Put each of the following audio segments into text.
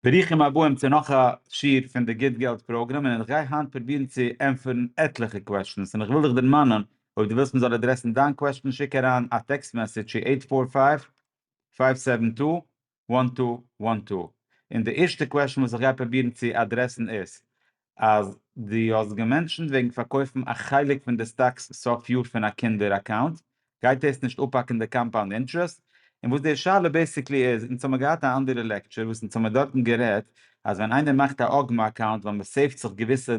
ברוכים הבאים צו נאך א שיעור פון די גוט געלט פראגראם און איך גיי היינט פרובירן צו ענטפערן עטליכע קוועשטענס און איך וויל דיך דערמאנען אויב דו ווילסט מען זאל אדרעסן דיין קוועשטען שיק אריין א טעקסט מעסעדזש צו עיט פאר פייוו פייוו סעווען טו וואן טו וואן טו און די ערשטע קוועשטען וואס איך גיי פרובירן צו אדרעסן איז אז דו האסט געמענשנט וועגן פארקויפן א חלק פון די סטאקס סוף יאר פון א קינדער אקאונט, גייט דאס נישט אפהאקן די קאמפאונד אינטרעסט? און וואס די שאלה בעסיקלי איז, אונז האמיר געהאט א אנדערע לעקטשור וואס אונז האמיר דארטן גערעדט אז ווען איינער מאכט א אגמא אקאונט ווייל מען סעיווט זיך געוויסע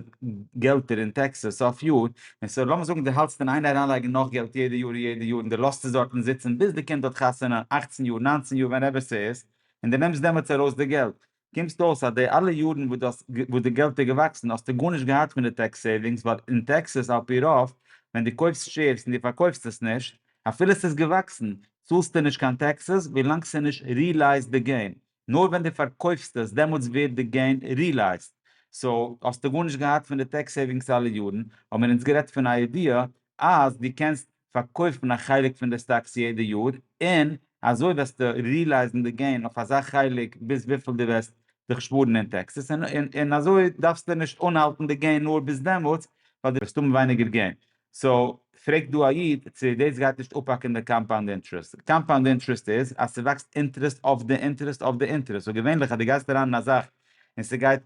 געלטער אין טעקסעס סוף יאר, און סאו לאמיר זאגן דו האלטסט אין איין אריינלייגן נאך געלט יעדע יאר און יעדע יאר און דו לאזט עס דארטן זיצן ביז די קינד האט חתונה אכצן יאר, ניינצן יאר ווענעווער ס'איז, און דו נעמסט דעמאלטס ארויס די געלט, קומסט אויס אז די אלע יארן וואס דו האסט וואס די געלט איז געוואקסן האסטו גארנישט געהאט פון די טעקס סעיווינגס ווייל אין טעקסעס על פי רוב ווען דו קויפסט שעירס און דו פארקויפסט עס נישט אפילו עס איז געוואקסן צאלסטו נישט קיין טעקסעס ווילאנג ס'איז נישט ריעלייזט די געין נאר ווען דו פארקויפסט עס דעמאלטס ווערט די געין ריעלייזט סאו האסטו גארנישט געהאט פון די טעקס סעיווינגס אלע יארן האבן מיר אונז גערעדט פון א ידיעה אז דו קענסט פארקויפט מען א חלק פון די סטאקס יעדע יאר, און אזוי וועסטו רילייזן די געין אויף אזא חלק ביז וויפיל דו וועסט זיך שפארן אין טעקסעס, און אזוי דארפסטו נישט אנהאלטן די געין נאר ביז דעמאלטס, ווייל דו וועסט האבן ווייניגער געין. סאו, פרעגט דא א איד צו דאס גייט נישט אפהאקן די קאמפאונד אינטערעסט. קאמפאונד אינטערעסט איז אז ס'וואקסט אינטערעסט אויף די אינטערעסט אויף די אינטערעסט. סאו געווענליך אז דו גייסט אריין אין א זאך און ס'גייט.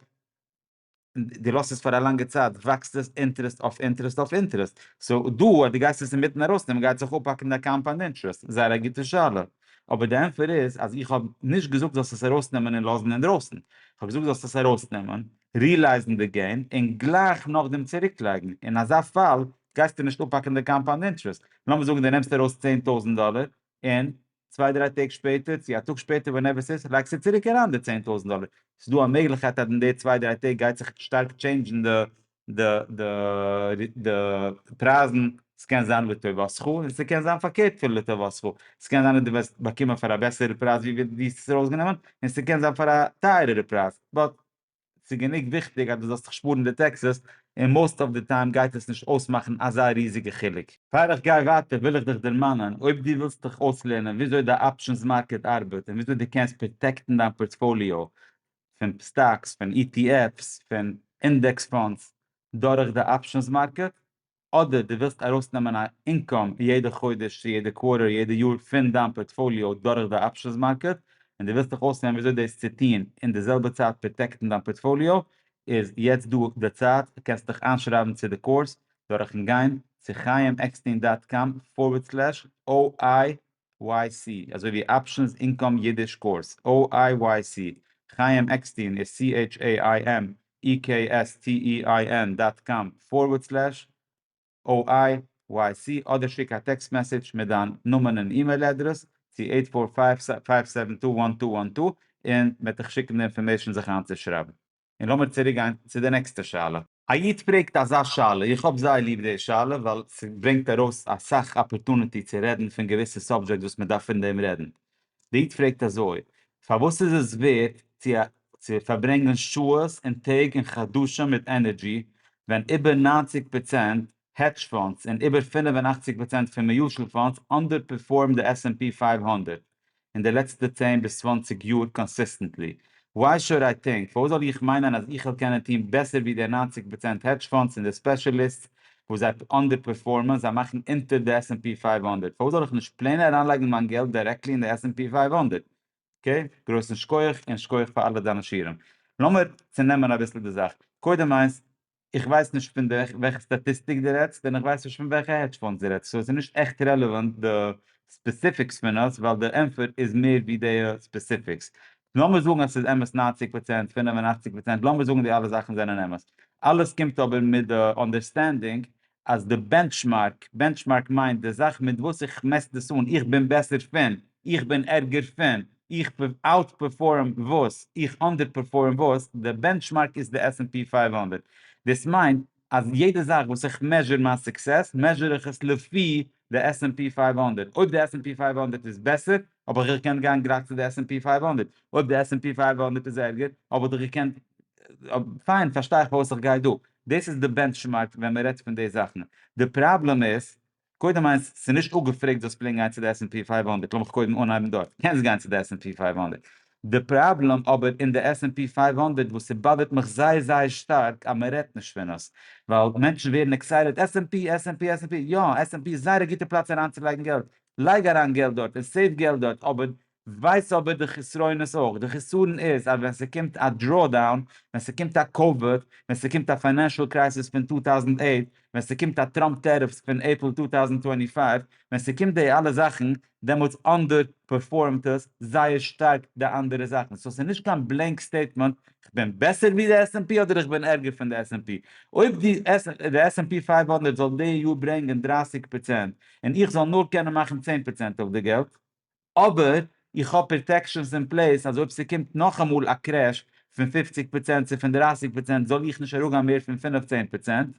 און דו לאזט עס פאר א לאנגע צייט וואקסט עס אינטערעסט אויף אינטערעסט אויף אינטערעסט, סאו דא אז דו גייסט עס אינמיטן ארויסנעמען גייט זיך אפהאקן דיין קאמפאנד אינטערעסט, זייער א גוטע שאלה, אבער די ענפער איז אז איך האב נישט געזאגט זאלסט עס ארויסנעמען און לאזן אינדרויסן, איך האב געזאגט זאלסט עס ארויסנעמען, רילייזן די געין און גלייך נאכדעם צוריקלייגן, אין אזא פאל גייסטו נישט אפהאקן די קאמפאנד אינטערעסט, לאמיר זאגן דו נעמסט ארויס צען טויזנט דאלער, און צוויי דריי טעג שפעטער צו א טאג שפעטער ווענעווער ס'איז לייגסטו צוריק אריין די צען טויזנט דאלער, ס'איז דא א מעגליכקייט אז אין די צוויי דריי טעג גייט זיך שטארק טשעינדזשן די פרייזן, ס'קען זיין לטובתך און ס'קען זיין פארקערט פון לטובתך, ס'קען זיין אז דו וועסט באקומען פאר א בעסערע פרייז ווי דו האסט עס ארויסגענומען, און ס'קען זיין פאר א טייערערע פרייז, באט ס'איז גענוג וויכטיג אז דו זאלסט זיך שפארן די טעקסעס, און מאוסט אוו די טיים גייט עס נישט אויסמאכן אזא ריזיגע חילוק. פאר איך גיי ווייטער וויל איך דיך דערמאנען, אויב דו ווילסט דיך אויסלערנען וויאזוי די אפשענס מארקעט ארבעט און וויאזוי דו קענסט פראטעקטן דיין פארטפאליאו פון סטאקס, פון איטיעפס, פון אינדעקס פאנדס דורך די אפשענס מארקעט, אדער דו ווילסט ארויסנעמען א אינקאם יעדע חודש צו יעדע קווארטער יעדע יאר פון דיין פארטפאליאו דורך די אפשענס מארקעט און דו ווילסט דיך אויסלערנען וויאזוי דאס צו טון און די זעלבע צייט פראטעקטן דיין פארטפאליאו איז יעצט דא די צייט קענסט דיך איינשרייבן צו די קורס דורכן גיין צו חייםעקסטין דאט קאם פארווערד סלעש OI YC, אזוי ווי אפשענס אינקאם אידיש קאורס, OIYC, חיים עקסטין איז CHAIMEKSTEIN דאט קאם פארווערד סלעש OIYC אדער שיק א טעקסט מעסעדזש מיט דיין נאמען און אימעיל אדרעס צו עיט פאר פייוו פייוו סעווען טו וואן טו וואן טו און מען וועט דיך שיקן די אינפארמעישן זיך איינצושרייבן. און לאמיר צוריק גיין צו די נעקסטע שאלה. א איד פרעגט אזא שאלה, איך האב זייער ליב די שאלה ווייל ס'ברענגט ארויס אסאך אפערטונעטי צו רעדן פון געוויסע סאבדזשעקטס וואס מ'דארף פון דעם רעדן. די איד פרעגט אזוי, פארוואס איז עס ווערט צו צו פארברענגען שעות און טעג און חדשים מיט ענערדזשי ווען איבער נײַנציק פראצענט העדזש פאנדס און איבער פֿינף און אַכציק פראצענט פון מיוטשעל פאנדס אנדערפערפארמד די עס ענד פי פֿינף הונדערט אין די לעצטע צען ביז צוואַנציק יאר קאנסיסטענטלי, וויי שוד איי טינק? פארוואס זאל איך מיינען אז איך וועל קענען טון בעסער ווי די נײַנציק פראצענט העדזש פאנדס און די ספעשעליסטס וואס זיי אנדערפערפארמען, זיי מאכן אונטער די עס ענד פי פֿינף הונדערט, פארוואס זאל איך נישט פלעין אריינלייגן מיין געלט דירעקטלי אין די עס ענד פי פֿינף הונדערט? אקעי, גרויסן שקויעך, און שקויעך פאר אלע דיינע שיעורים. לאמיר צונעמען אביסל די זאך. קודם איינס, איך ווייס נישט פון די וועלכע סטאטיסטיק די רעדסט און איך ווייס נישט פון וועלכע העדזש פאנדס די רעדסט סאו עס איז נישט עכט רעלעוואנט די ספעסיפיקס פון עס ווייל די ענפער איז מער ווי די ספעסיפיקס. לאמיר זאגן אז עס איז אמת נײַנציק פראצענט פֿינף און אַכציק פראצענט לאמיר זאגן די אלע זאכן זענען אמת אלעס קומט אבער מיט די אנדערסטענדינג אז די בענטשמארק, בענטשמארק מיינט די זאך מיט וואס איך מעסט דאס אן, איך בין בעסער פון, איך בין ערגער פון, איך אוט פערפארם וואס, איך אנדער פערפארם וואס, די בענטשמארק איז די עס ענד פי פֿינף הונדערט. דאס מיינט אז יעדע זאך וואס איך מעזשור מיין סוקסעס, מעזשור איך עס לפי די עס ענד פי פֿינף הונדערט, אויב די עס ענד פי פֿינף הונדערט איז בעסער, האב איך געקענט גיין גלייך צו די עס ענד פי פייוו הונדערט, אויב די עס ענד פי פייוו הונדערט איז ערגער, האב איך דאך געקענט, פיין פארשטיי איך פארוואס איך גיי דא, דאס איז די בענטשמארק ווען מען רעדט פון די זאכן, די פראבלעם איז, קודם איינס, ס'איז נישט אפגעפרעגט זאלסט פלעגן גיין צו די עס ענד פי פייוו הונדערט, לאמיך קודם אנהייבן דארט, קענסט גיין צו די עס ענד פי פייוו הונדערט, די פראבלעם אבער אין די עס ענד פי פייוו הונדערט וואס ס'באדערט מיך זייער זייער שטארק אז מען רעדט נישט פון עס, ווייל מענטשן ווערן עקסייטעד, עס ענד פי, עס ענד פי, עס ענד פי, יא עס ענד פי איז זייער א גוטע פלאץ אריינצולייגן געלט, לייג אריין געלט דארט און סעיוו געלט דארט אבער ווייס אבער די חסרונות אויך, די חסרון איז אז ווען ס'קומט א דראו דאון, ווען ס'קומט א קאוויד, ווען ס'קומט א פיינענשעל קרייסיס פון טו טאוזנט אייט, ווען ס'קומט א טראמפ טעריפס פון עפריל טו טאוזנט טווענטי פייוו, ווען ס'קומט די אלע זאכן דעמאלטס אנדער פערפארמט עס זייער שטארק די אנדערע זאכן, סאו ס'נישט קיין בלענק סטעיטמענט כ'בין בעסער ווי די עס ענד פי אדער איך בין ערגער פון די עס ענד פי, אויב די עס ענד פי פייוו הונדערט זאל די יאר ברענגען דרײַסיק פראצענט און איך זאל נאר קענען מאכן צען פראצענט אויף די געלט, אבער איך האב פראטעקשאנס אין פלעיס אז אויב ס'קומט נאכאמאל א קרעש פון פופציג פראצענט צו פון דרייסיג פראצענט זאל איך נישט אראפגיין מער פון פינף-צען פראצענט.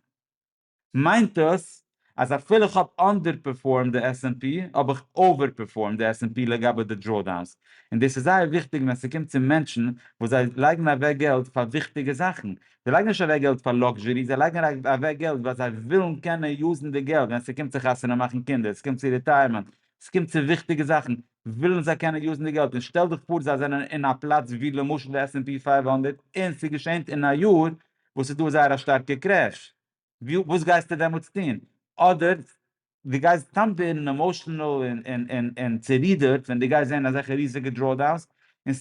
מיינט עס אז אפילו כ'האב אנדערפערפארמד די עס ענד פי האב איך אווערפערפארמד די עס ענד פי לגבי די דראודאונס, און דאס איז זייער וויכטיג ווען ס'קומט צו מענטשן וואס זיי לייגן אוועק געלט פאר וויכטיגע זאכן, זיי לייגן נישט אוועק געלט פאר לאקזשערי, זיי לייגן אוועק געלט ווייל זיי ווילן קענען יוזן די געלט ווען ס'קומט צו חתונה מאכן קינדער, ס'קומט צו ריטייערמענט, ס'קומט צו וויכטיגע זאכן, ווילן זיי קענען יוזן די געלט, און שטעל דיך פאר זיי זענען אין א פלאץ ווי למשל די עס ענד פי פֿינף הונדערט און ס'געשענט אין א יאר וואס ס'איז דא זייער א שטארקע קרעש, וואס גייסטו דעמאלטס טון? אדער דו גייסט סתם ווערן עמאשענעל און צערידערט ווען דו גייסט זען אזעלכע ריזיגע דראודאונס,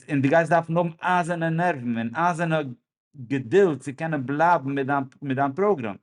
און דו גייסט דארפן האבן אייזערנע נערוון און אייזערנע געדולד צו קענען בלייבן מיט דיין פראגראם.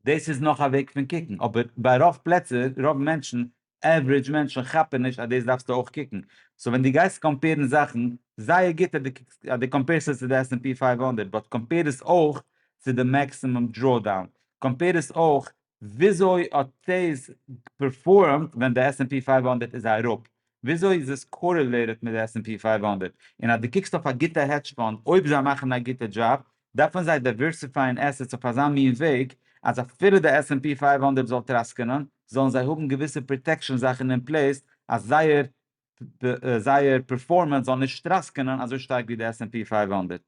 דאס איז נאך א וועג פון קוקן, אבער ביי רוב פלעצער, רוב מענטשן, עוורידזש מענטשן כאפן נישט אז דאס דארפסטו אויך קוקן, סאו ווען דו גייסט קאמפעירן זאכן, זייער גוט אז דו קוקסט אז דו קאמפעירסט עס צו די עס ענד פי פייוו הונדערט, באט קאמפעיר עס אויך צו די מעקסימום דראודאון, קאמפעיר עס אויך וויאזוי האט דאס פערפארעמט ווען די עס ענד פי פייוו הונדערט איז אראפ, וויאזוי איז עס קארעלעיטעד מיט די עס ענד פי פייוו הונדערט, און אז דו קוקסט אויף א גוטע העדזש פאנד, אויב זיי מאכן א גוטע דזשאב, דארפן זיי דייווערסיפייען עסעטס אויף אזא מין וועג אז אפילו די עס ענד פי פֿינף הונדערט זאל טראסקענען זאלן זיי האבן געוויסע פראטעקשאן זאכן אין פלעיס אז זייער זייער פערפארמענס זאל נישט טראסקענען אזוי שטארק ווי די עס ענד פי פֿינף הונדערט.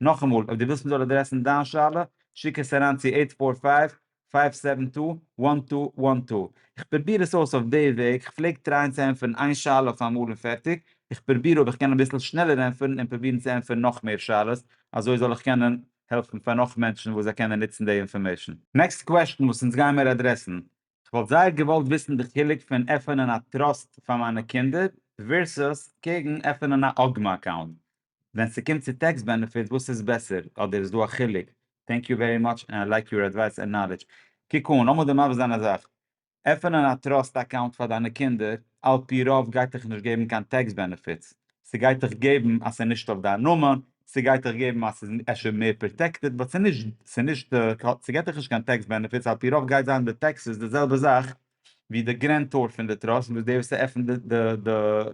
נאכאמאל, אויב דו ווילסט מען זאל אדרעסן דיין שאלה, שיק עס אריין צו עיט פאר פייוו פייוו סעווען טו וואן טו וואן טו. איך פרוביר עס אויס אויף די וועג, איך פלעג טרייען צו ענטפערן איין שאלה אויף אמאל און פערטיג, איך פרוביר אויב איך קען אביסל שנעלער ענטפערן און פרובירן צו ענטפערן נאך מער שאלות, אזוי זאל איך קענען העלפן פאר נאך מענטשן וואס זיי קענען נוצן די אינפארמעישן. נעקסט קוועשן וואס אונז גיימער אדרעסן. כ'וואלט זייער געוואלט וויסן די חילוק פון עפענען א טראסט פאר מיינע קינדער ווערסוס קעגן עפענען א אגמא אקאונט. ווען ס'קומט צו טעקס בענעפיט וואס איז בעסער? אדער איז דא א חילוק? טענק יו ווערי מאטש ענד איי לייק יור עדווייס ענד נאלעדזש. קוק אן, לאמיר דיר מבשר זיין א זאך. עפענען א טראסט אקאונט פאר דיינע קינדער, על פי רוב גייט דיך נישט געבן קיין טעקס בענעפיטס. ס'גייט דיך געבן אז ס'איז נישט אויף דיין נאמען, ס'גייט דיך געבן אז ס'איז אפשר מער פראטעקטעד, באט ס'איז נישט, ס'איז נישט, ס'געט דיך נישט קיין טעקס בענעפיטס, על פי רוב גייט זיין די טעקסעס די זעלבע זאך ווי די גרענטאר פון די טראסט וואס דער וואס ער עפענט די די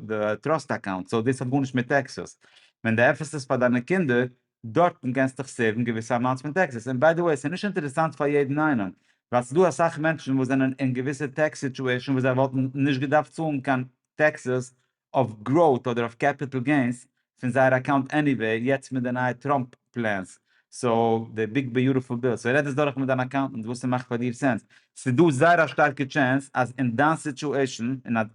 די טראסט אקאונט סאו דאס האט גארנישט מיט טעקסעס ווען די עפענט עס פאר דיינע קינדער דארטן קענסטיך סעיוון געוויסע אמאונטס פון טעקסעס און ביי די וועי ס'איז נישט אינטערעסאנט פאר יעדן איינעם ווייל ס'דא אסאך מענטשן וואס זענען אין געוויסע טעקס סיטועשאן וואס זיי וואלטן נישט געדארפט צאלן קיין טעקסעס אויף גראוט אדער אויף קעפיטעל געינס פון זייער אקאונט עניוועי יעצט מיט די נייע טראמפ פלענס סאו די ביג ביוטעפול ביל סאו רעד עס דורך מיט דיין אקאונטענט וואס ס'מאכט פאר דיר סענס ס'איז דא זייער א שטארקע טשענס אז אין דיין סיטואעישן און אז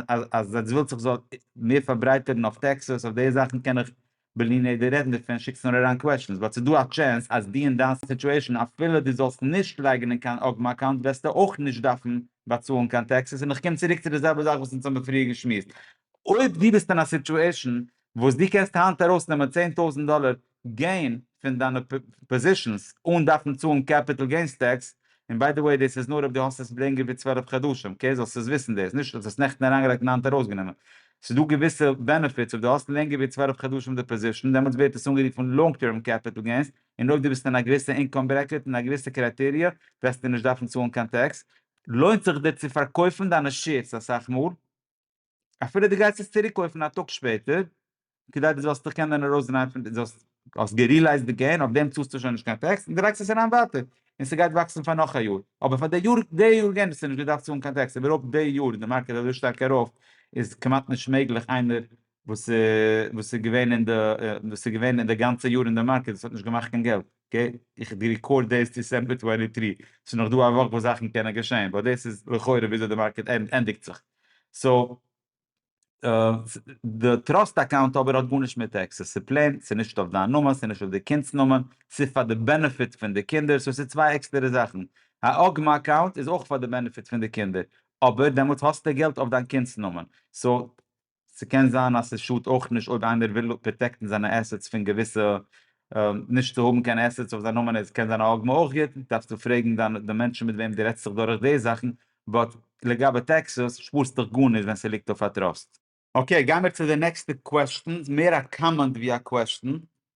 אז אז אז ווילסט איך זאל מער פארברייטערן אויף טעקסעס אויף די זאכן קען איך בלי נדר רעדן דערפון שיקסט נאר אריין קוועשענס באט ס'איז דא א טשענס אז דו אין דיין סיטועשען אפילו דו זאלסט נישט לייגן אין קיין אגמא אקאונט וועסטו אויך נישט דארפן באצאלן קיין טעקסעס און איך קום צוריק צו די זעלבע זאך וואס אונז האבן פריער געשמועסט אויב דו ביסט אין א סיטועשען וואס דו קענסט היינט ארויס נעמען צען טויזענט דאלער געין פון דיינע פאזישענס אן דארפן צאלן קעפיטעל געינס טעקס און ביי די וועי דאס איז נאר אויב דו האסט עס לענגער ווי צוועלף חדשים, אקעי? זאלסט עס וויסן דאס, נישט האסט עס נעכטן אריינגעלייגט און היינט ארויסגענומען. ס'איז דא געוויסע בענעפיטס אויב דו האסט לענגער ווי צוועלף חדשים די פאזישן, דעמאלטס ווערט עס אנגערופן לאנג טערם קעפיטל געינס, און אויב דו ביסט אין א געוויסע אינקאם ברעקעט און א געוויסע קרייטעריע, וועסטו נישט דארפן צאלן קיין טעקס. לוינט זיך דיר צו פארקויפן דיינע שעירס אסאך מאל? אפילו דו גייסט עס צוריק קויפן א טאג שפעטער, כדי דו זאלסט דיך קענען ארויסדרייען פון די, זאלסט, האסט גערילייזט די געין, אויף דעם צאלסטו שוין נישט קיין טעקס, און דו לייגסט עס אריין ווייטער, און ס'גייט וואקסן פאר נאך א יאר. אבער פאר די יאר, די יארגענג האסטו נישט געדארפט צאלן קיין טעקס, איבערהויפט די יאר איז די מארקעט אזוי שטארק ארויף, איז כמעט נישט מעגליך איינער וואס וואס איז געווען אין די, וואס איז געווען אין די גאנצע יאר אין די מארקעט, וואס האט נישט געמאכט קיין געלט, אקעי, איך ריקארד דעיס דיסעמבער טווענטי טרי, ס'איז נאך דא א וואך וואס זאכן קענען געשען, באט דעיס איז לכאורה וויאזוי די מארקעט ענדיגט זיך. סאו די טראסט אקאונט אבער האט גארנישט מיט טעקסעס, ס'איז פלעין, ס'איז נישט אויף דיין נאמען, ס'איז נישט אויף די קינד'ס נאמען, ס'איז פאר די בענעפיט פון די קינדער, סאו ס'איז צוויי עקסטערע זאכן, א אגמ אקאונט איז אויך פאר די בענעפיט פון די קינדער, אבער דעמאלטס האסטו געלט אויף דיין קינד'ס נאמען, סאו ס'קען זיין אז ס'שאדט אויך נישט אויב איינער וויל פראטעקטן זיינע עסעטס פון געוויסע, נישט צו האבן קיין עסעטס אויף זיין נאמען איז קען זיין א אגמ אויך גוט, דארפסטו פרעגן דיין די מענטשן מיט וועם דו רעדסט זיך דורך די זאכן, באט לגבי טעקסעס שפארסט דיך גארנישט ווען ס'ליגט אויף א טראסט. אקעי גיימיר צו די נעקסטע קוועסטשן, מער א קאמענט ווי א קוועסטשן,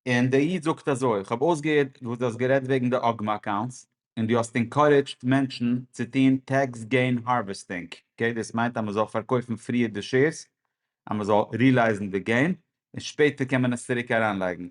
און דער איד זאגט אזוי, איך האב אויסגעהערט וואס דו האסט גערעדט וועגן די אגמא אקאונטס, און דו האסט אינקארעדזשד מענטשן צו טוהן טעקס געין הארוועסטינג, אקעי דאס מיינט אז מ'זאל פארקויפן פריער די שעירס אז מ'זאל רילייזן די געין, און שפעטער קען מען עס צוריק אריינלייגן,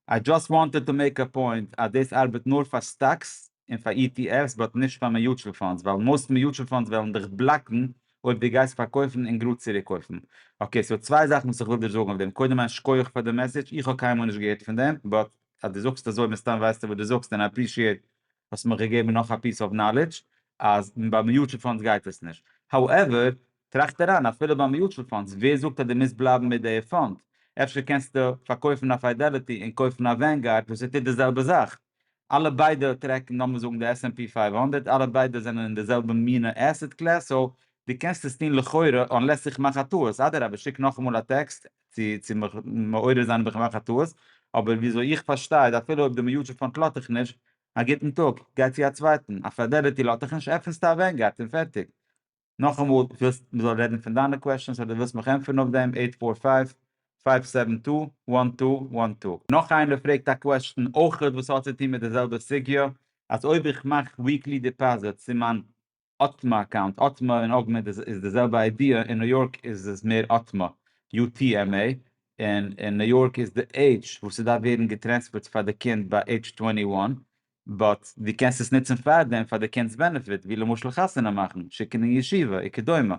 איי דזשאסט וואנטעד טו מעיק א פוינט אז דאס ארבעט נאר פאר סטאקס און פאר אי טי עף'ס באט נישט פאר מיוטשעל פאנדס ווייל מאסט מיוטשעל פאנדס וועלן דיך בלאקן אויב דו גייסט פארקויפן און גראד צוריק קויפן. אקעי ס'דא צוויי זאכן וואס איך וויל דיר זאגן אויף דעם קודם א שקויעך פאר די מעסעדזש איך האב קיינמאל נישט געהערט פון דעם באט אז דו זאגסט אזוי מסתם ווייסטו וואס דו זאגסט און איי עפרישיעט האסט מיך געגעבן נאך א פיס אוו נאלעדזש אז ביי מיוטשעל פאנדס גייט עס נישט האועווער טראכט אריין, אפילו ביי מיוטשעל פאנדס, ווער זאגט אז דו מוזט בלייבן מיט די פאנד? אפשר קענסטו פארקויפן א פיידעליטי און קויפן א ווענגארד וואס עס טוט די זעלבע זאך. אלע ביידע טרעקן לאמיר זאגן די עס ענד פי פֿינף הונדערט, אלע ביידע זענען אין די זעלבע מינע עסעט קלעס, סאו דו קענסט עס טון לכאורה, אנלעס איך מאך א טעות, אדרבה שיק נאכאמאל א טעקסט צו צו מיך מעורר זיין אויב איך מאך א טעות, אבער וויאזוי איך פארשטיי איז אפילו אויב די מיוטשעל פאנד לאט דיך נישט, א גוטן טאג, גיי צו א צווייטן, א פיידעליטי לאט דיך נישט, עפנסטו א ווענגארד און פערטיג. נאכאמאל, דו ווילסט מ'זאל רעדן פון דיינע קוועשאנס אדער ווילסט מיך ענטפערן אויף דעם? עיט פאר פייוו פייוו סעווען טו וואן טו וואן טו. נאך איינער פרעגט א קוועשאן אויכעט וואס האט צו טון מיט די זעלבע סוגיא, אז אויב איך מאך וויקלי דיפאזיט צו מיין otma אקאונט, otma און אוגמענט איז די זעלבע איידיע, אין ניו יארק איז עס מער otma, UTMA, און אין ניו יארק איז די עידזש וואס ס'דארף ווערן געטרענספערט פאר די קינד ביי עידזש טווענטי וואן, באט דו קענסט עס נוצן פארדעם פאר די קינד'ס בענעפיט ווי למשל חתונה מאכן, שיקן אין ישיבה, וכדומה.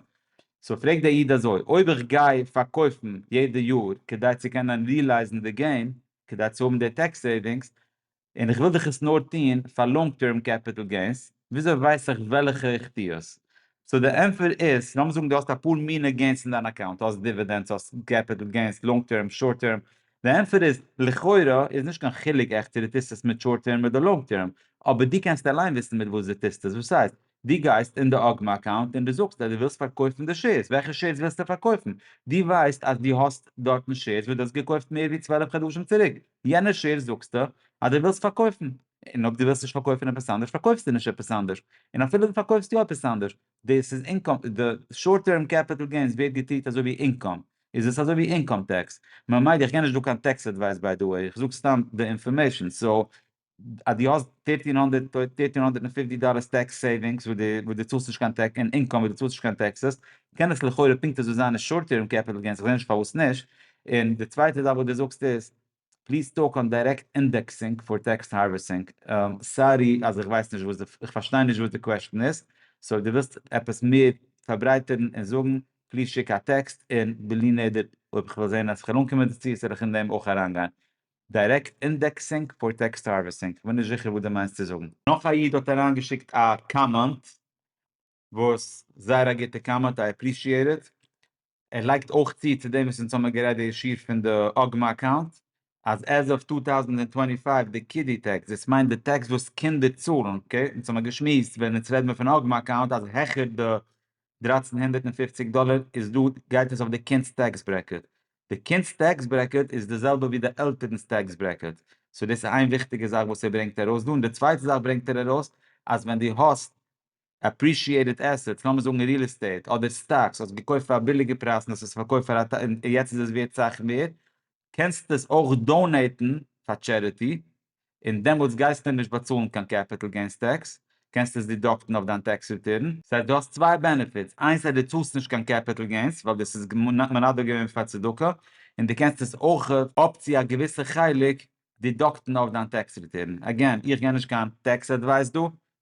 סאו פרעגט דער איד אזוי, אויב איך גיי פארקויפן יעדע יאר כדי צו קענען ריעלייזן די געים, כדי צו האבן די טעקס סעיווינגס, און איך וויל דאך עס נאר טון פאר לאנג טערם קעפיטעל געינס, וויאזוי ווייס איך וועלכע איך טו עס? סאו די ענטפער איז, לאמיר זאגן דו האסט אפאר מינע געינס אין דיין אקאונט, האסט דיווידענדס, האסט קעפיטעל געינס, לאנג טערם, שארט טערם, די ענטפער איז, לכאורה איז נישט קיין חילוק עכט צו דו טוסט עס מיט שארט טערם אדער לאנג טערם, אבער דו קענסט אליין וויסן מיט וואס דו טוסט עס, וואס הייסט, דו גייסט אין די אגמא אקאונט און דו זאגסט אז דו ווילסט פארקויפן די שעירס, וועלכע שעירס ווילסטו פארקויפן? דו ווייסט אז דו האסט דארטן שעירס וואס דו האסט געקויפט מער ווי צוועלף חדשים צוריק, יענע שעירס זאגסטו אז דו ווילסט פארקויפן, און אויב דו ווילסט נישט פארקויפן עפעס אנדערש פארקויפסטו נישט עפעס אנדערש, און אפילו דו פארקויפסט יא עפעס אנדערש, דאס איז אינקאם, די שארט טערם קעפיטעל געינס ווערט געטריט אזוי ווי אינקאם, איז עס אזוי ווי אינקאם טעקס, ממילא איך גיב נישט דא קיין טעקס עדווייס ביי די וועי, איך זאג סתם די אינפארמעישן, סאו אז דו האסט פֿופֿצן הונדערט פֿופֿציק דאלער טעקס סעיווינגס וואס דו צאלסט נישט קיין טעקס, און אינקאם וואס דו צאלסט נישט קיין טעקסעס, קען עס לכאורה פונקט אזוי זיין אין שארט טערם קעפיטעל געינס, איך זע נישט פארוואס נישט, און די צווייטע זאך וואס דו זאגסט איז פליז טאלק אן דיירעקט אינדעקסינג פאר טעקסט הארוועסינג. סארי אז איך ווייס נישט וואס די, איך פארשטיי נישט וואס די קוועשטען איז, סאו אויב די ווילסט עפעס מער פארברייטערן און זאגן, פליז שיק א טעקסט און בלי נדר אויב איך וועל זעהן אז איך קען אנקומען דערצו זאל איך אין דעם אויך אריינגיין. דיירעקט אינדעקסינג פאר טעקסט הארוועסינג, כ'בין נישט זיכער וואס די מיינסט צו זאגן. נאך א איד האט אריינגעשיקט א קאמענט. וואס זייער א גוטע קאמענט איי עפרישיעט איט, ער לייגט אויך צו צו דעם וואס אונז האמער גערעדט די אישי פון די אגמא אקאונט אז עז אוו טו טאוזענד און טווענטי פייוו די קידי טעקס דאס מיינט די טעקס וואס קינדער צאלן אקעי אונז האמער געשמועסט ווען אונז רעד מיר פון אגמא אקאונט אז העכער די דרײַצן הונדערט און פֿופֿציק דאלער איז דא גייט עס אויף די קינדס טעקס ברעקעט, די קינדס טעקס ברעקעט איז די זעלבע ווי די עלטערנס טעקס ברעקעט, סאו דאס איז איין וויכטיגע זאך וואס ער ברענגט ארויס דא, און די צווייטע זאך ברענגט ער ארויס אז ווען דו האסט עפרישיעטעד עסעטס, לאמיר זאגן ריעל עסטעיט אדער סטאקס, האסט געקויפט פאר א ביליגע פרייז און האסט עס פארקויפט פאר א ט און יעצט איז עס ווערט סאך מער, קענסטו עס אויך דאנעיטן פאר טשעריטי, און דעמאלטס גייסטו נישט באצאלן קיין קעפיטעל געינס טעקס, קענסט עס דידאקטן אויף דיין טעקס ריטורן. סאיז דא דו האסט צוויי בענעפיטס, איינס אז דו צאלסט נישט קיין קעפיטעל געינס ווייל דאס איז מנדב געווען פאר צדקה, און דו קענסט עס אויך אפ צו א געוויסע חלק דידאקטן אויף דיין טעקס ריטערן, עגעין איך גיב נישט קיין טעקס עדווייס דא,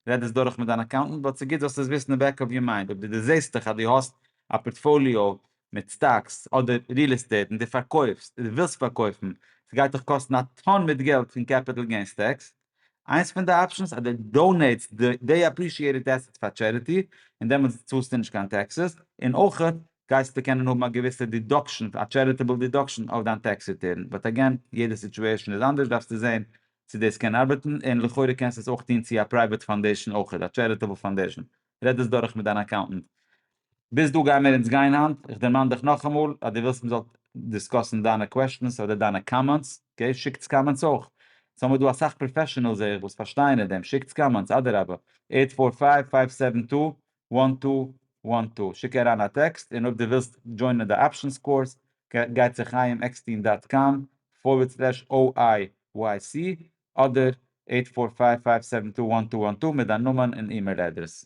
רעד עס דורך מיט דיין אקאונטענט, באט ס'גוט זאלסט עס וויסן אין בעק אוו יור מיינד, אויב דו דערזעסטעך אז דו האסט א פארטפאליאו מיט סטאקס אדער ריעל עסטעיט און דו פארקויפסט אדער ווילסט פארקויפן, ס'גייט דיך קאסטן א טאן מיט געלט פון קעפיטעל געינס טעקס, איינס פון די אפשענס אז דו דאונעיטסט די אפרישיעטעד עסעטס פאר טשעריטי און דעמאלטס צאלסטו נישט קיין טעקסעס, און אויך גייסטו קענען האבן א געוויסע דידאקשען, א טשעריטעבל דידאקשען אויף דיין טעקס ריטערן, באט עגעין, יעדע סיטועשען איז אנדערש דארפסטו זעהן צו דאס קען ארבעטן, און לכאורה קענסטו עס אויך טוהן צו א פרייוועט פאנדעישאן אויך, א טשעריטעבל פאנדעישאן, רעד דאס דורך מיט דיין אקאונטענט. ביז דא גיימיר אונז גיין היינט, איך דערמאן דיך נאכאמאל אז דו ווילסט מ'זאל דיסקאסן דיינע קוועשטענס אדער דיינע קאמענטס, אקעי, שיקטס קאמענטס אויך, עס האמיר דא אסאך פראפעשענעלס זעה איך וואס פארשטייען אין דעם, שיקטס קאמענטס, אדרבה, עיט פאר פייוו פייוו סעווען טו וואן טו וואן טו, שיק אריין א טעקסט און אויב דו ווילסט דזשוינען די אפשענס קורס גיי צו חיים עקסטין דאט קאם פארווערד סלעש OIYC אדער עיט פאר פייוו פייוו סעווען טו וואן טו וואן טו מיט דיין נאמען און אימעיל אדרעס.